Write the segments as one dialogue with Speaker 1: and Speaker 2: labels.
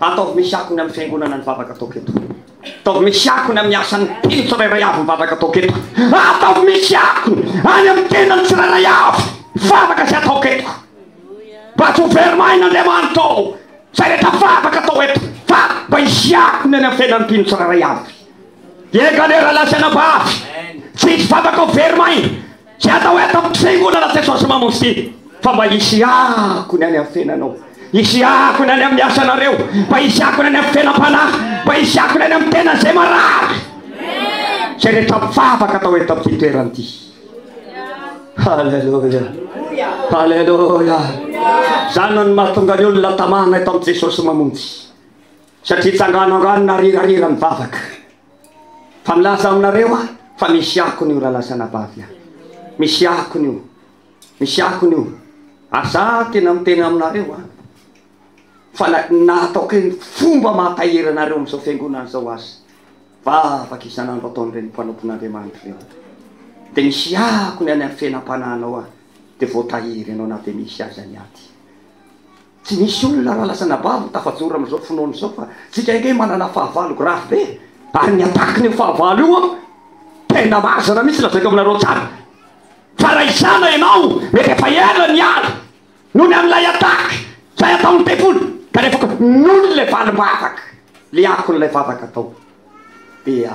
Speaker 1: Ataovy misy akony amin'ny fiangonana ny vavaka ataoko eto. Ataovy misy akony amin'ny asan'ny teny tsirairay avy ny vavaka ataoko eto. Ataovy misy akony any amin'ny tenany tsirairay avy vavaka izay ataoko eto. Mba tsy ho very maina Andriamanitra ô, izay rehetra vavaka atao eto, fa mba hisy akony any amin'ny fiainan'ny mpino tsirairay avy. Ie, Galera lahy sy anabavy, tsy hisy vavaka ho very maina. Tsy atao eto amin'ny fiangonana Jesosy Mamonjy ity fa mba hisy akony any amin'ny fiainanao, hisy akony any amin'ny asanareo, mba hisy akony any amin'ny fiainam-panahy, mba hisy akony any amin'ny tenan'izay marary. Izay rehetra mivavaka atao eto amin'ity toerana ity. Alléluia. Alléluia. Izany no mahatonga ny olona tamana eto amin'i Jesosy Mamonjy. Satria tsangananganona rirarira mivavaka. Fa milaza aminareo aho fa misy akony io ralasanabavy aho. Misy akony io. Misy akony io. Ary za tena miteny aminareo an. Fa na na ataoko eny fomba mahatahiry anareo amin'izao fiangonana izao aza. Vavaka isan'andro ataon'ireny mpanompon'Andriamanitra ireny. Dia misy akony any amin'ny fenam-panahinao aho. Dia voatahiry ianao na dia misy aza ny ady. Tsy misy olona raha lasa anabavy no tafajoro amin'izao finoana izao fa tsika ange manana fahavalo grave be ary ny attaque-n'io fahavalo io an, tena marina mihitsy lazaiko aminareo tsara fa raha izana ianao mety efa ela niala noho ny an'ilay attaque izay ataon'ny devoly kanefa koa noho ny le valim-bavaka le akon'ilay vavaka atao dia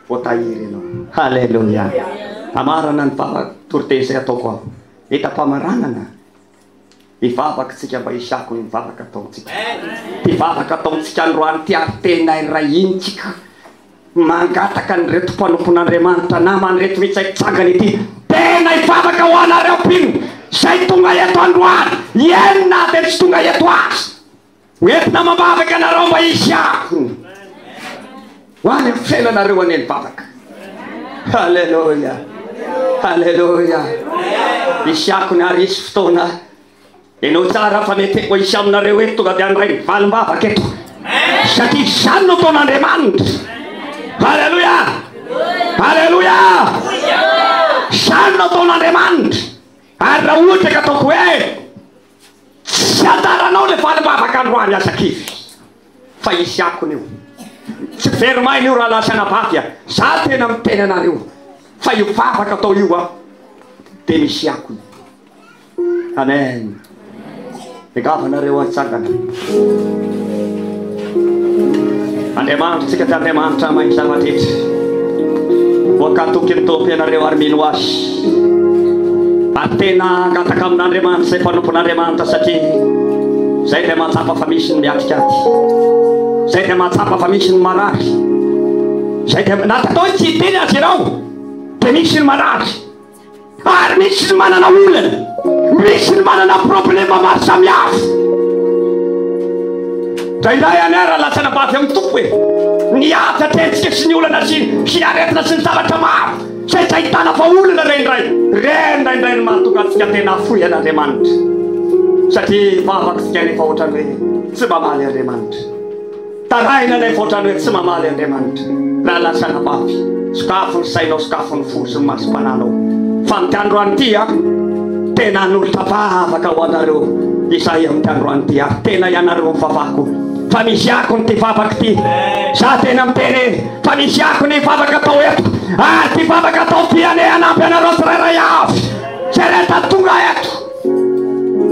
Speaker 1: voatahiry ianao. Haleloia! Hamarana ny vava-toriteny izay ataoko aho. Mitam-pamaranana. Hivavaka isika mba hisy akony ny vavaka ataontsika. Ity vavaka ataontsika androany ity ary tena iray hina isika mangataka an'ireto mpanompon'Andriamanitra namana ireto mihitsy izay mitsangana ity. Tena hivavaka ho anareo mpino izay tonga eto androany, eny na dia tsy tonga eto aza. Hoentina amam-bavaka ianareo mba hihiako ho any amin'ny fiainanareo any am-bavaka. Aleloia. Aleloia. Hihiako ny ary hisy fotoana enao tsara fa mety efa hisy aminareo eto tonga dia handray ny valim-bavaka eto. Satria izany no taon'Andriamanitra. Aleloia. Aleloia. Izany no taon'Andriamanitra. Ary raha ohatra ka ataoko hoe Tsy anjaranao le valim-bavaka androany aza kivy fa hisy akony io. Tsy very maina io rahalahy sy anabavy a! Za tena miteny anareo fa io vavaka atao io a de misy akony. Amen! Engava nareo a hitsangana. Andriamanitro tsika tsy Andriamanitra mahay zavatra eto voakatoky ny Tompo ianareo ary mino azy ary tena angataka amin'Andriamanitra izay mpanompon'Andriamanitra satria zay dia mahatsapa fa misy ny miatikady zay dia mahatsapa fa misy ny marary zay dia natatao tsy hiteny azy irao dia misy ny marary Ary misy ny manana olana, misy ny manana problema maro samihafa. Indraindray anie raha latsana bavy amin'ny tompo e, ny ady atrehintsika sy ny olana sy sy ny aretina sy ny zavatra maro izay tsy ahitana fa olana re indray re indraindray ny mahatonga antsika tena hafoy an'Andriamanitra satria vavaka isika nefa ohatran'ny hoe tsy mba maly Andriamanitra. Tarahina ilay ohatran'ny hoe tsy mamaly Andriamanitra raha lasa anabavy. Sokafy ny sainao, sokafy ny fo sy ny masom-pananao. Fa amin'ity androany ity aho tena hanolotra vavaka ho anareo izahay amin'ity androany ity ary tena ianareo ny vavako fa misy akony ity vavaka ity. Za tena miteny e, fa misy akony ny vavaka atao eto ary ity vavaka atao ity anie hanampy anareo tsirairay avy izay rehetra tonga eto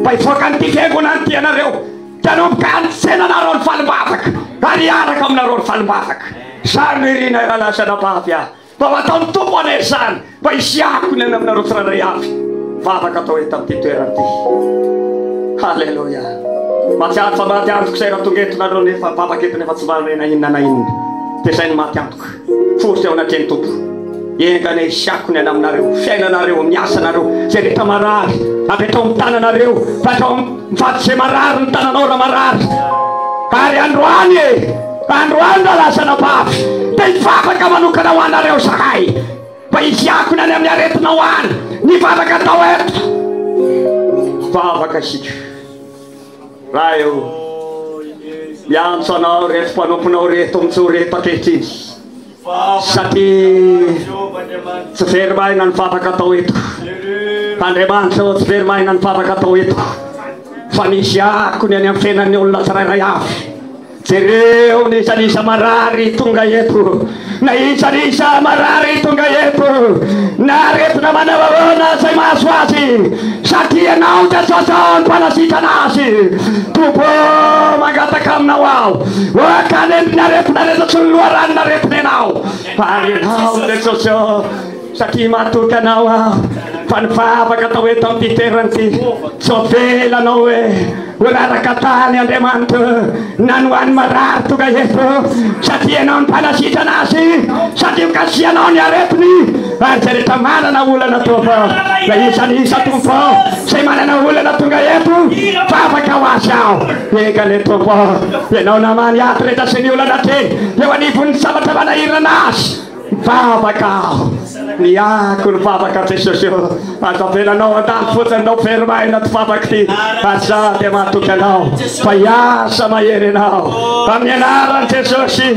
Speaker 1: mba hivoaka an'ity fiangonana ity ianareo. Tanomboka hanitsena anareo ny valim-bavaka ary hiaraka aminareo ny valim-bavaka. Izany no irina i Rahalahy sy Anabavy ahy, mba ho ataon'ny Tompo anay izany, mba hisiahako ny any aminareo tsirairay avy, mivavaka atao eto amin'ity toerana ity. Haleloia. Mahatsiaro fa maty antoko izay raha tonga eto nareo nefa vavaka eto nefa tsy mba omena inona na inona. Dia izay no maty antoko. Fofo ao anatreha ny Tompo. Enga anie hisiako ny anaminareo, fiainanareo, ny asanareo, izay rehetra marary, avy hatrao amin'ny tananareo, fa hatrao amin'ny faty izay marary ny tananao raha marary. Ary androany e, androany raha lasa anabavy, dia hivavaka manokana ho anareo zahay, mba hisiako ny any amin'ny aretinao any, ny vavaka atao eto. Vavaka isika. Raha eo. Miantso anao ireto mpanomponao ireto mijoro ireto ankehitriny, satria tsy very maina ny vavaka atao eto. Andriamanitra ô, tsy very maina ny vavaka atao eto, fa misy akony any amin'ny fiainan'ny olona tsirairay avy. Jereo ny isan'isa marary tonga eto, na isan'isa marary tonga eto, na aretina manao ahoana izay mahazo azy, satria Ianao Jesosy ô, ny Mpanasitrana azy. Tompo ô, mangataka Aminao aho, ôka hanendry ny aretina rehetra sy ny loharanon'aretina Ianao. Ary Ianao Jesosy ô, Satria matoky Anao aho, fa ny vavaka atao eto amin'ity toerana ity, tsy ho avela Anao hoe ho raraka tany, Andriamanitra o, na ny ho an'ny marary tonga eto, satria Ianao no mpanasitrana azy, satria mikasihanao ny aretiny, ary izay rehetra manana olana Tompo, na iza na iza Tompo o, izay manana olana tonga eto, vavaka ho azy aho, enga anie Tompo o, Ianao namany ato rehetra sy ny olana hatreny eo anivon'ny zavatra manahirana azy, Vavaka aho, niako ny vavaka Jesosy o, aza avela anao an-tany fotsiny no very maina ty vavaka ty fa za dia matoky anao fa hiasa mahery ianao amin'ny anaran'i Jesosy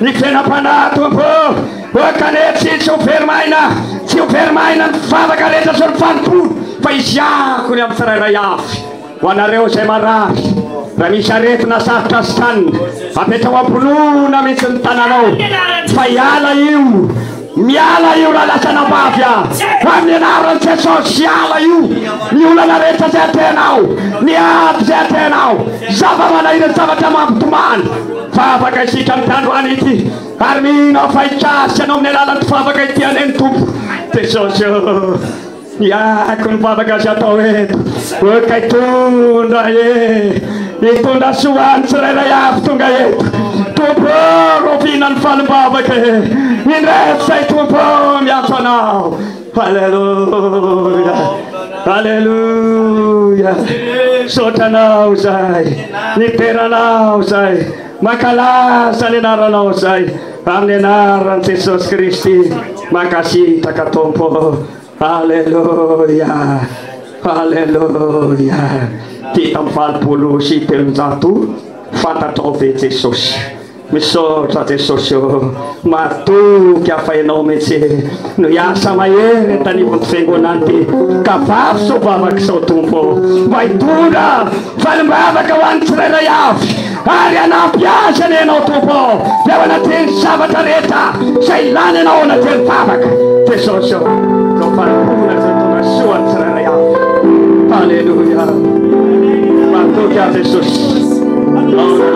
Speaker 1: ny fenam-panahy Tompo o, ok anie tsy tsy ho very maina, tsy ho very maina ny vavaka rehetra sy ny fanompoana fa izy hiako ny amin'ny tsirairay avy. Ho anareo izay marary, raha misy aretina sarotra asitrany, apetraho am-pinoana mihitsy ny tananao fa hiala io. Miala io raha lasa anabavy aho. Ho amin'ny anaran'i Jesosy, hiala io. Ny olana rehetra izay atehanao, ny ady izay atehanao, zava-manahirana, zavatra mampitomany. Fa afaka isika amin'ity androany ity, ary mino aho fa hikasika anao amin'ny alalan'ity vavaka ity anie ny Tompo. Jesosy ô! Iako ny vavaka azo atao eto hoe kay tondra e Hitondra soa ho an'ny tsirairay avy tonga eto Tompo ô rovina ny falim-bavaka e Indreto izay Tompo ô miantso anao Alléluia Alléluia Misaotra anao izay Nidera anao izay Mankalaza ny anaranao zay amin'ny anaran'i Jesosy Kristy mankasitraka Tompo Aleloia Aleloia Fito amby valopolo sy telonjato fantatrao ve Jesosy Misaotra Jesosy ô Mahatoky afa ianao mihitsy no hiasa mahery eto anivon'ity fiangonana ity ka varoso vavaka izao Tompo ô! Mba hitondra valim-bavaka ho an'ny tsirairay avy ary hanampy azy anie ianao Tompo ô! Dia ao anatin'ny zavatra rehetra izay ilana ianao ao anatin'ny vavaka Jesosy ô! Izao fanompoana izao hitondra soa ho an'ny tsirairay avy. Haleloia! Mahatoky aho Jesosy. Ao anatin'ny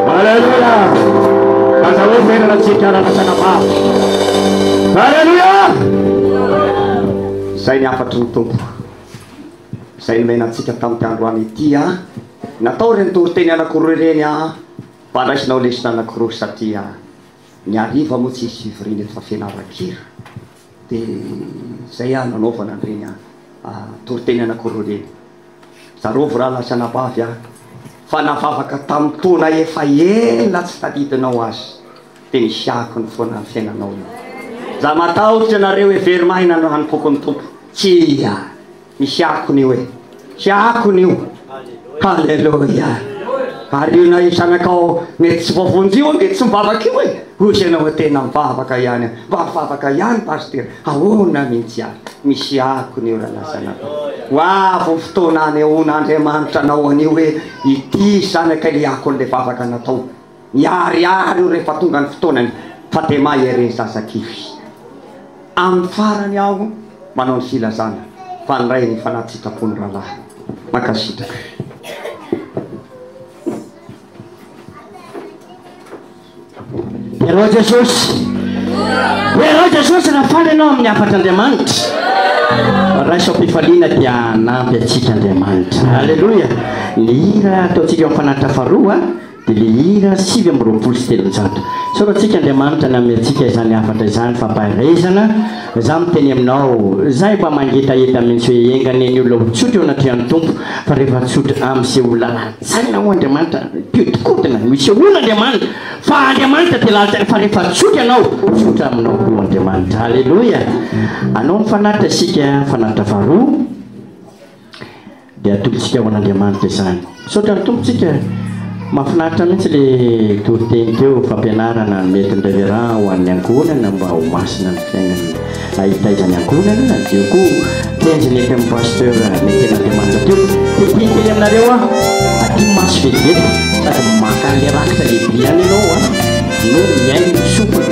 Speaker 1: Aleloia! Aza hoe merina tsy hikarana tana-maro. Aleloia! Izay ny hafatry ny Tompo. Izay nomena antsika tamin'ity androany ity an. Natao ireny toriteny anankiroa ireny an. Mba raisinao lesona anankiroa satria ny hariva moa tsy hisy fivoriana eto fa fianaran-kira. Dia izay an, nanaovana an'ireny toriteny anankiroa ireny. Tsarovy ra lasa anabavy aho fa navavaka tamin'ny taona efa ela tsy tadidinao azy dia nisy akony foana ny fiainanao io za matahotra ianareo e very maina no hanompoako ny Tompo tsia misy akony io e misy akony io haleloia ary io na io zanakao mety tsy voavonjy io ange tsy mivavaka io e hozy ianao tena mivavaka ihany mba mivavaka ihany pasitera Ahoana mintsy aho misy akony eo raha lasa anakao. Ho avy ny fotoana hanehoan Andriamanitra anao anio hoe ity zanaka ilay akony ilay vavaka nataony. Miharihary io rehefa tonga ny fotoanany fa dia mahay ery ny zaza kivy. Amin'ny farany aho manao ny filazana fa ny Ray efa anaty sitrapony rahalahy. Mankasitraka. Heroa Jesosy! Heroa Jesosy raha faly ianao amin'ny hafatr'Andriamanitra! Raiso am-pifaliana dia hanampy antsika Andriamanitra. Aleloia! Ny hira ataontsika eo amin'ny fanatitra faharoa dia ilay hira sivy amby roapolo sy telonjato. Isaorantsika Andriamanitra ny hanome antsika izany hafatra izany, fampaherezana. Izaho miteny aminao, izay mba mangetaheta mihitsy hoe enga anie ny olona ho tsotra eo anatrehan'ny Tompo fa rehefa tsotra, amin'ny sehoa lalàna. Saina ho Andriamanitra mpihodinkodina, misehoana Andriamanitra, fa Andriamanitra dia lalitra fa rehefa tsotra ianao, tsotra aminao koa Andriamanitra. Aleloia! Anao ny fanatitra isika, fanatitra faharoa, dia atolotsika ho an'Andriamanitra izany. Misaotra ny Tompo tsika, mahafinaritra mihitsy le toriteny teo, fampianarana mety ny Reverend ho an'ny ankohonana mba ho masina ny fiainana. Aitaiza ny ankohonana na Dieu ko tenjy ny FM Pasteur Mekena Andriamanitra teo Tetehiko kely aminareo aho Aty maso vetivety sady maka an'le rakitra lehibe ihany ianao a No mihaino ny sofina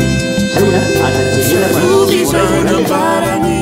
Speaker 1: Zay a aza jerena fa misy voaray vao ray